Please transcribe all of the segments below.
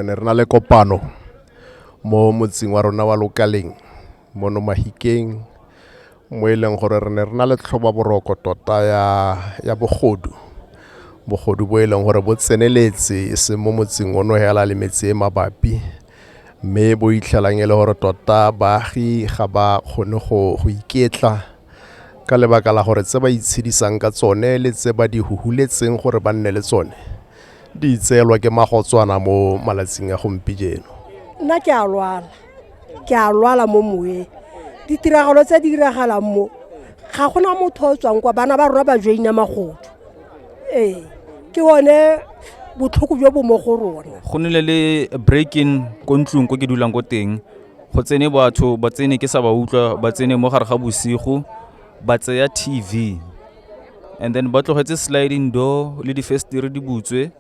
re ne re na le kopano mo motseng wa rona wa lokaleng mono mahikeng mo e leng gore re ne re na le tlhoba boroko tota ya, ya bogodu bogodu bo e leng gore bo tseneletse e seng mo motseng ono hela le metse e mabapi mme bo itlhelang e le gore tota baagi ga ba kgone go iketla Ka lebaka la gore tse ba itshedisang ka tsone le tse ba di huhuletseng gore ba nne le tsone di itseelwa ke magotswana mo malatsing a gompijeno. Nna ke a lwala, ke a lwala mo moweng. Ditiragalo tse di diragalang mo, ga gona motho o tswang kwa, bana ba rona ba joina magodu. Ee, ke one botlhoko jo bo mo go rona. Go nile le break-in ko ntlong ko ke dulang ko teng. go tsene batho ba tsene ke sa ba utlwa ba tsene mo gare ga bosigo ba tseya tv and then ba tlogetse sliding door le difestere di butswe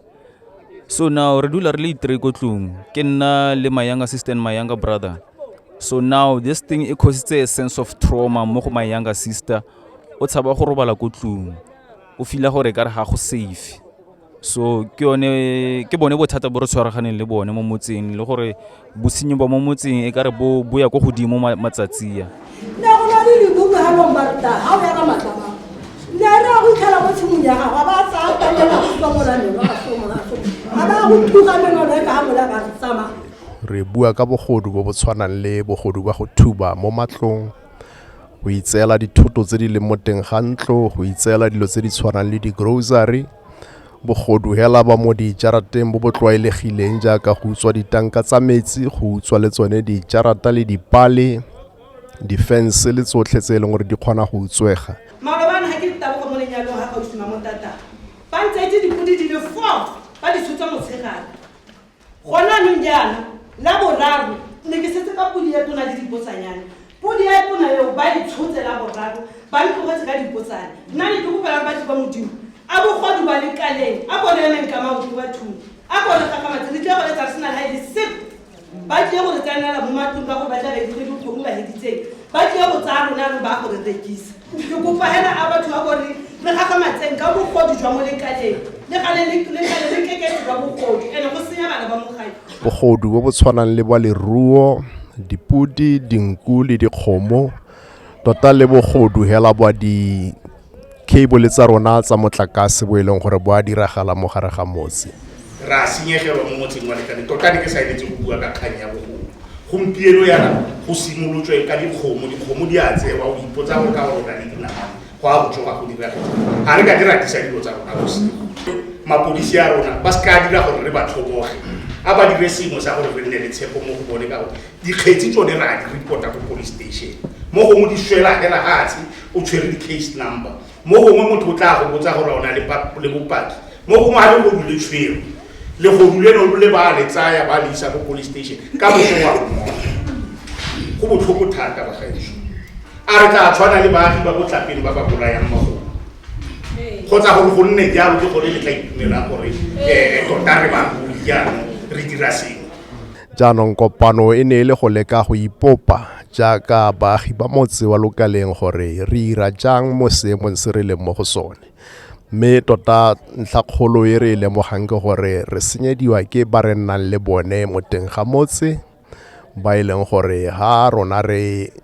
so now re dula re le itre ko tlong ke nna le my younger sister and my younger brother so now this thing e cositse a sense of trauma mo go my younger sister o tshaba go robala ko tlong o fila gore ka re ga go safe so ke yone ke bone bothata bo re tshwaraganeng le bone mo motseng le gore bosenyi ba mo motseng e kare bo bo ya ko godimo matsatsi ya ne go na le libuku ga long barta ga o ya ka matlama ne re ya go itlhela mo tshimong ya gago ba tsaya kalela supa molanelo ga so moraso ga ba go thuka meno le ka ga mola ka re tsamaya re bua ka bogodu bo bo tshwanang le bogodu ba go thuba mo matlong go itseela dithoto tse di leng mo teng ga ntlo go itseela dilo tse di tshwanang le di-grocery bogodu hela ba mo dijarateng bo bo tlwaelegileng jaaka go utswa ditanka tsa metsi go utswa le tsone dijarata le dipale difense le tsotlhe tse e leng gore di kgona go utswega malobana ga ke ditabogo mo lenyalong ga kgausima mo tata ba ntse itse dipodi di le four ba di tshotsa motshegare gone anong jaana la boraro ne ke setse ka podi ya tona le dipotsanyane podi ya tona eo ba e tshotse la boraro ba le tlogetse ka dipotsane nna ne ke kopelang batho ba modimo a bogodu ba lekaleng a bone emeng ka maoto ba thuni a bone gagamatse re tle go letsa sena la ele sep ba tle go re tsenela mo matlong ka gore ba tla re dikgwedi kgomo ba heditseng ba tle go tsaya rona re ba go re rekisa Ke kopa hela a batho ba bone re gagamatseng ka bogodu jwa molekaneng le gale le le gale le keketse jwa bogodu ene go senya bana ba mogadi. Bogodu bo bo tshwanang le bwa leruo, dipodi, dinku le dikgomo, tota le bogodu hela bwa di cable tsa rona tsa motlakase bo e leng gore bo a diragala mo gare ga motse. Re a senyegelwa mo motseng wa Lekane. Tota ne ke sa eletse go bua ka kgang ya bogodu. Gompieno yana go simolotswe ka dikgomo, dikgomo di a tsewa, o ipotsa gore ka gore o na le dinamane, go a go tsoga go dira eng. Ga re ka di ratisa dilo tsa rona bosigo. Mapodisi a rona ba se ka dira gore re ba tlhoboge, a ba dire sengwe sa gore re nne le tshepo mo go bone ka gore dikgetsi tsone re a di report-a ko police station. Mo gongwe di swela fela fatshe o tshwere di-case number. mo gongwe motho o tla go botsa gore o na le bopaki mo gongwe ga legodu le tshwere legodu le no le ba le tsaya ba le isa ko police station ka motho wa mmoa go botlhoko thata bagaetso a re tla tshwana le baagi ba botlapele ba ba bolayang magolo kgotsa gore go nne jalo ke gore le tla itumela gore um tota re bagodi jaanong re dira sengwe Jaanong kopano e ne e le go leka go ipopa jaaka baagi ba motse wa lokaleng gore re ira jang mo seemong se re leng mo go sone. Mme tota ntlha kgolo e re e lemogang ke gore re senyediwa ke ba re nnang le bone mo teng ga motse ba e leng gore ha rona re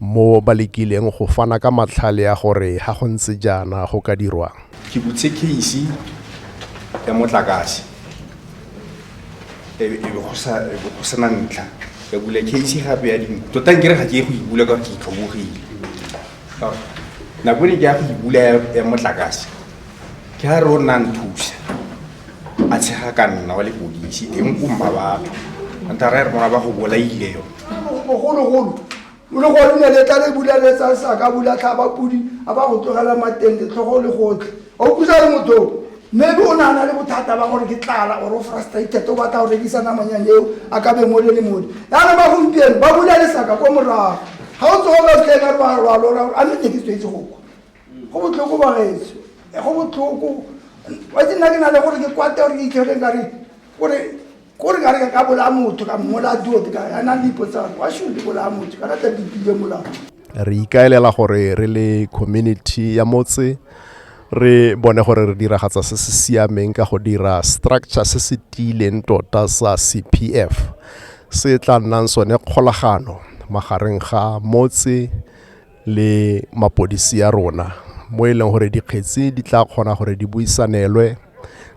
mo ba lekileng go fana ka matlhale a gore ga go ntse jaana go ka dirwang. Ke butse case ya motlakase e be go sena ntlha ka bula case gape ya dingwe tota nkere ga ke ye go ibula ka ke itlhobogile nako ne ke ya go ibula ya motlakase ke ga re o nna nthusa a tshega ka nna wa lepodisi teng ko mmabatho anta ra re mona ba go bolaile yone bogologolo o le gone ne le tla le bula le tsa sa ka bula tlhaba pudi a ba go tlogela mateng letlhogo le gotlhe a o pusa le motho maybe o nana le bothata ba gore ke tlala or o frustrated o batla go rekisa namanyane eo a ka beng o le le mone yana ba gompieno ba bula lesaka ko morago ga o tsogo ka tlheka re wa lora gore a mme ne ke tswetse go kwa go botlhoko ba gaetso go botlhoko wa ke nna ke na le gore ke kwate gore ke itlhele ka re gore ko re ka re ka ka bolaya motho ka mmolaya duote ka a na le ipotsang wa should ke bolaya motho ka rata dipile molao re ikaelela gore re le community ya motse re bone gore re diragatsa se se siameng ka go dira structure se se tiileng tota sa cpf se tla nnang sone kgolagano magareng ga motse le mapodisi ya rona mo e leng gore dikgetsi di tla kgona gore di buisanelwe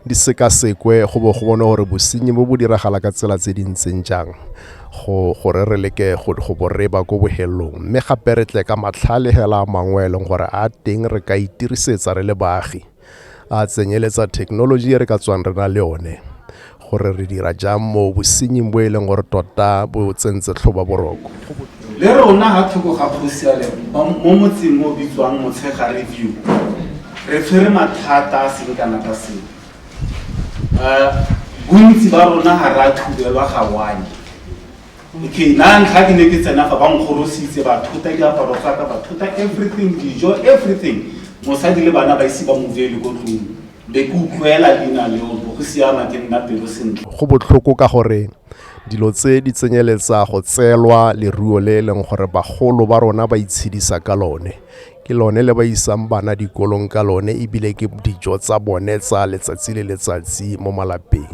di sekasekwe go bo go bone gore bosenyi bo bo diragala ka tsela tse di ntseng jang go gore re leke go go bo re ba ko bohelong mme gape re tle ka matlhale hela a mangwe e leng gore a teng re ka itirisetsa re le baagi a tsenyeletsa thekenoloji e re ka tswang re na le one gore re dira jang mo bosenying bo e leng gore tota bo tsentse tlhoba boroko le rona ga thoko ga kgosiale mo motseng o bitswang motshega review re tshwere mathata a seng kana ka seo um bontsi ba rona ga re a thubelwa ga one Okay, na ntlha ke ne ke tsena fa ba nkgorositse ba thota diaparo tsa ka ba thota everything dijo everything mosadi le bana ba ise ba movele ko tlong be ke utlwela leina leo bo go siama ke nna pelo sentle go botlhoko ka gore dilo tse di tsenyeletsa go tseelwa leruo le e leng gore bagolo ba rona ba itshedisa ka lone ke lone le ba isang bana dikolong ka lone ebile ke dijo tsa bone tsa letsatsi le letsatsi mo malapeng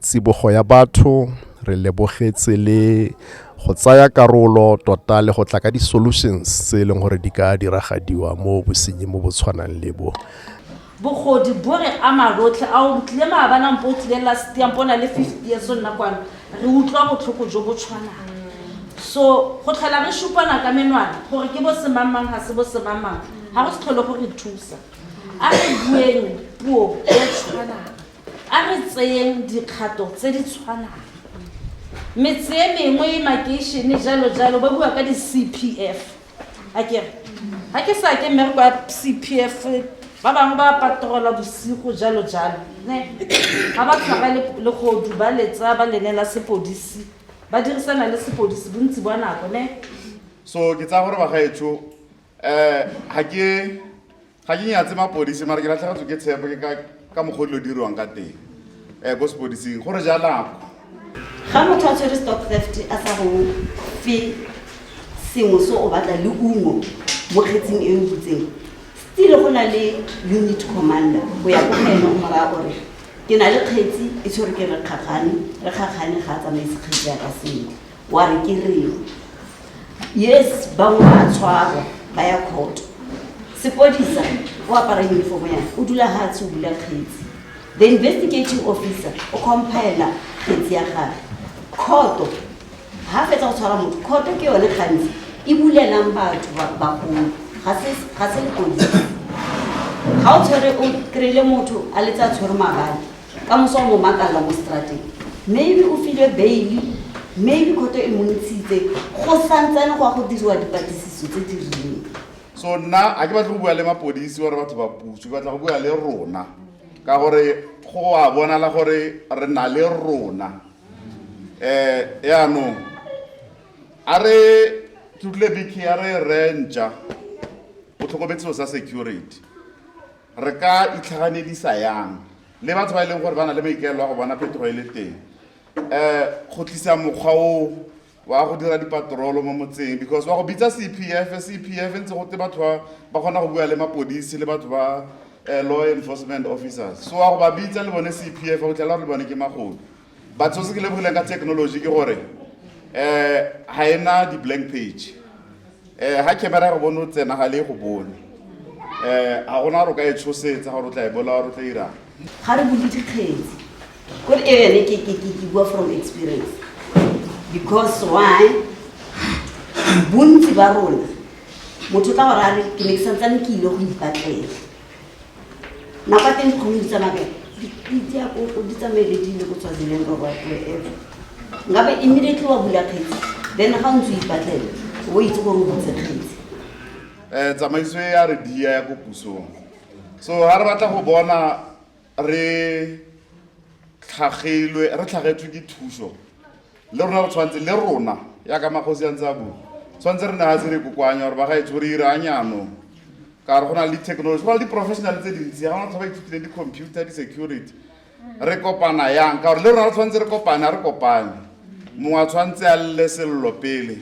tsibogo ya batho re lebogetse le go tsaya karolo tota le go tla ka di-solutions tse e leng gore di ka diragadiwa mo bosenyi mo bo tshwanang le bo bogodi bo re ama rotlhe a o tlile maabanang po o tlile last year po na le fifty years o nna kwano re utlwa botlhoko jo bo tshwanang so go tlhola re supana ka menwana gore ke bo semangmang ga se bo semangmang ga go se tlhole go re thusa a re bueng puo e tshwanang A re tseyeng dikgato tse di tshwanang. Metse e mengwe, makeišene, jalo jalo, ba bua ka di-CPF. A kere, ga ke sa ke mmereko ya CPF, ba bangwe ba patrola bosigo, jalo jalo. Ne? Ga ba tshwara le- legodu, ba letsa, ba lenela sepodisi, ba dirisana le sepodisi bontsi bwa nako, ne? So, ke tsaya gore bagaetsho um ga ke ga ke nyatse mapodisi mara ke latlhagatswe ke tshepo ke ka mokgwa dilo dirwang ka teng um ko sepodising gore jalako ga motho a tshwere stock theft a sa go fe sengwe se o batla le ungo mo kgetsing e o butseng stile go na le unit commander go ya ko ene o moraya gore ke na le kgetsi e tshwere ke re kgakgane re kgakgane ga a tsamaise kgetsi ya ka sentle wa re ke reng yes bangwe ba tshwarwa ba ya kgoto sepodisa o apara uniform ya o dula ga tshe o bula kgetsi the investigating officer o compaela kgetsi ya gage kgoto ga fetsa go tshwara motho kgoto ke yone gantsi e bulelang batho bagolo ga se lepodisa ga o tshwere o kry-ile motho a letse a tshwere mabadi ka moso o mo makalla mo strateng maybe o filwe baile maybe khoto e montshitse go santsane go ya go diriwa dipatlisiso tse di rileng so nna a ke batle go bua le mapodisi gore batho ba puso ke batla go bua le rona ka gore go a bonala gore re na le rona um yaanong a re tutle biki a re rentša o tlhokometseo sa security re ka itlhaganedisa yang le batho ba e leng gore ba na le maikaelo a go bona phetogo e le teng um go tlisa mokgwa o wa go dira dipatrolo mo motseng because wa go bitsa c p f c p f ntse gote batho ba ba kgona go bua le mapodisi le batho ba um law enforcement officers so wa go ba bitsa le bone c p f o tlhela gore le bone ke magodu batho se ke lebogileng ka technology ke gore um ga e na di-blank page um ga camera ya go bone o tsena ga le go bone um ga gona gore o ka e tshosetsa gore o tla e bola gore o tla irang ga re bule dikgetsi ko re ene ke ke ke ke bua from experience because why bontsi ba rona motho ka gore a re ke ne ke santsane ke ile go ipatlela nako a teng kgomedi tsa mabele dipitse ya koko di tsamaele di ile go tswa dileng ka whatever nkabe immediately wa bula kgetsi then ga o ntse o ipatlele o itse gore o butse kgetsi um tsamaiso e ya re dia ya ko pusong so ga re batla go bona re tlhagelwe re tlhagetswe ke thuso le rona re tshwanetse le rona ya ka magosi a ntse a bua tshwanetse re ne ga se re kokoanya gore ba ga etse gore ire a nyanong ka re go na le di-technology go na le di-professional tse dintsi ga gona tlha ba ithutileng di-computer di-security re kopana yang ka gore le rona re tshwanetse re kopane a re kopane mongwe a tshwanetse a lle selelo pele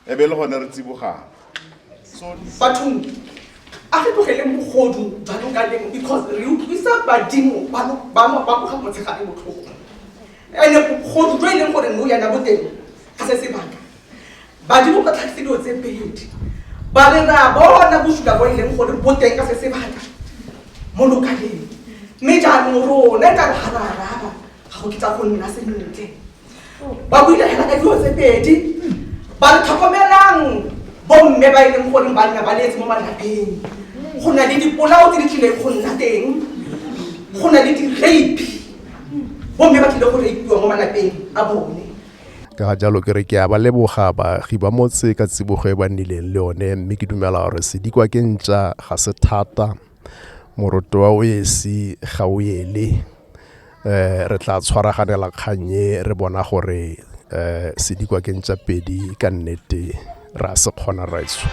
e be le gone re tsibogang bathong a re tlogele mogodu jalo ka lemo because re utlwisa badimo ba boga motshegare botlhoko ande bogodu jo e leng gore no yana boteng ga se sebaka badimo ba tlhagise dilo tse pedi ba re re a bona bosula bo e leng gore boteng ka se sebaka mo lokaleng mme jaanong rona e ka re ga ra araba ga go kitsa go nna sentle ba buile fela ka dilo tse pedi ba re tlhokomelang bomme ba e leng gore ba nna ba leetse mo malapeng go na le dipolao tse di tlileng go nna teng go na le di-rape bomme ba tlile go rapiwa mo malapeng a bone ka ga jalo ke re ke a ba leboga baagi ba motse ka tsibogo e ba nnileng le yone mme ke dumela gore sedikwa ke ntša ga se thata moroto wa o esi ga o ele, re tla tshwaraganela kgang e re bona gore sedikwa ke ntšapedi ka nnete re a se kgona rraetsho.